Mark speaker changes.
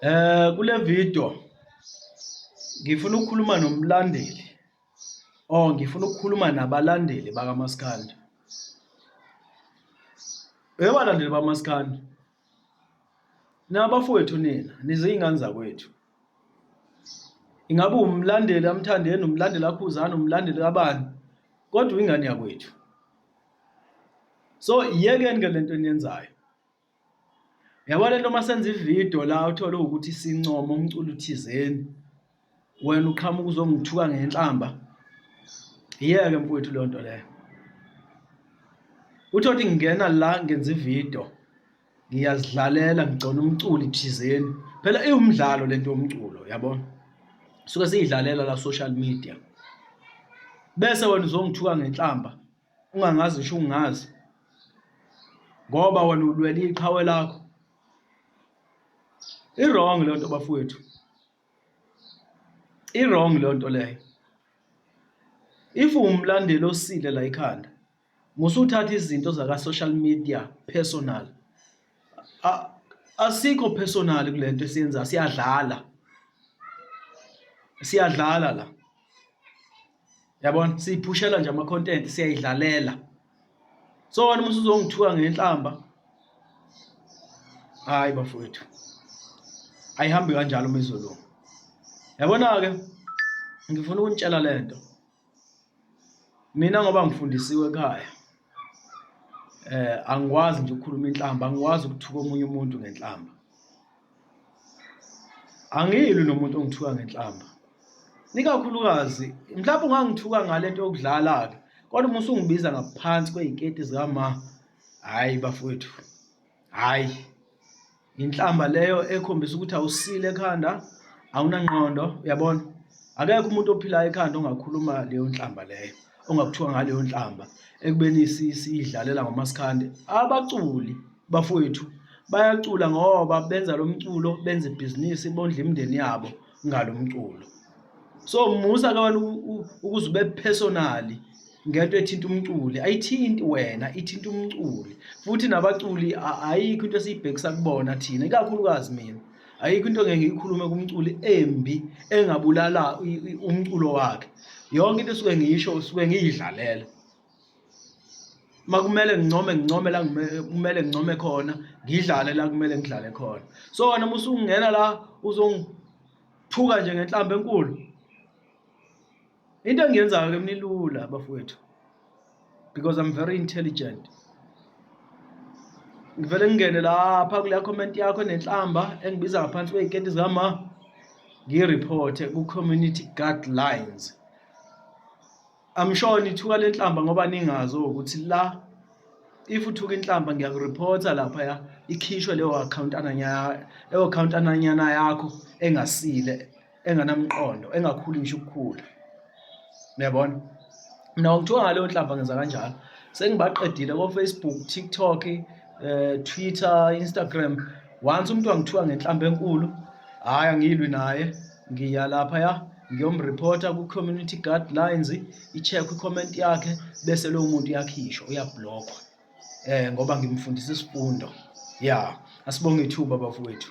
Speaker 1: Eh kule video ngifuna ukukhuluma nomlandeli or ngifuna ukukhuluma nabalandeli bakaMaskandi. Ebalandeli bamaskandi nabafowethu nina nizingane zakwethu ingabe umlandeli amthandeni umlandeli akhuzana umlandeli kabani kodwa ingane yakwethu so iyekeni ke lento eniyenzayo Yabo lento uma senza ividiyo la uthole ukuthi sincoma umculo uthizeni wena uqhamuka uzongithuka ngenhlamba yeke mfowethu leyo nto leyo uthe ukuthi ngingena la ngenza ividiyo ngiyazidlalela ngigcona umculi thizeni phela iwumdlalo lento yomculo yabona suke siyidlalela la social media bese wena uzongithuka ngenhlamba ungangazi ngisho ungazi ngoba wena ulwela iqhawe lakho i-wrong le nto bafowethu i-wrong le nto leyo if umlandeli osile la ikhanda musuthatha izinto zaka-social media personal asikho personal kule nto esiyenza siyadlala siyadlala la yabona siyiphushela nje ama content siyayidlalela so wena uma usuzongithuka ngenhlamba hayi bafowethu ayihambi kanjalo umizulu yabona ke ngifuna ukunitshela lento mina ngoba ngifundisiwe ekhaya eh angikwazi nje ukukhuluma inhlamba angikwazi ukuthuka omunye umuntu ngenhlamba angiyilwi nomuntu ongithuka ngenhlamba nikakhulukazi mhlawumbe ungangithuka ngale nto yokudlala-ke kodwa uma usungibiza ngaphansi kwey'keti zikama hhayi bafowethu hhayi inhlamba leyo ekhombisa ukuthi awusile ekhanda awunangqondo uyabona akekho umuntu ophilayo ekhanda ongakhuluma leyo nhlamba leyo ongakuthiwa ngaleyo nhlamba ekubeni siyidlalela ngomasikandi abaculi bafowethu bayacula ngoba benza lo mculo benza ibhizinisi bondla imindeni yabo ngalo mculo so musa ke wena ukuze ube personally ngento ethinta umculi ayithinti wena ithinta umculi futhi nabaculi ayikho into esiyibhekisa kubona thina ikakhulukazi mina ayikho into ngeke ngiyikhulume kumculi embi engabulala umculo wakhe yonke into esuke ngiyisho usuke ngiyidlalela uma kumele ngincome ngincome la kumele ngincome khona ngidlale la kumele ngidlale khona so wena uma usungena la uzongiphuka nje ngenhlamba enkulu into engiyenzayo ke mnilula bafowethu because i'm very intelligent ngivele ngingene lapha kule comment yakho nenhlamba engibiza ngaphansi kwey'keti zikama ngiyireporte ku-community guidelines I'm sure nithuka lenhlamba ngoba ningazi ukuthi la if uthuka inhlamba ngiyakureporta lapha ya ikhishwe leyo account ananya leyo account ananyana yakho engasile enganamqondo engakhuli ngisho ukukhula uyabona mina ngithuka ngaleyo nhlamba ngenza kanjalo sengibaqedile ko Facebook TikTok eh Twitter Instagram once umuntu angithuka ngenhlamba enkulu hayi angilwi naye ngiya lapha ya ngiyomreporta ku-community guidelines i-check i-comment yakhe bese lowo muntu uyakhishwa uyablokhwa um eh, ngoba ngimfundisa isifundo ya asibonge ithuba bafowethu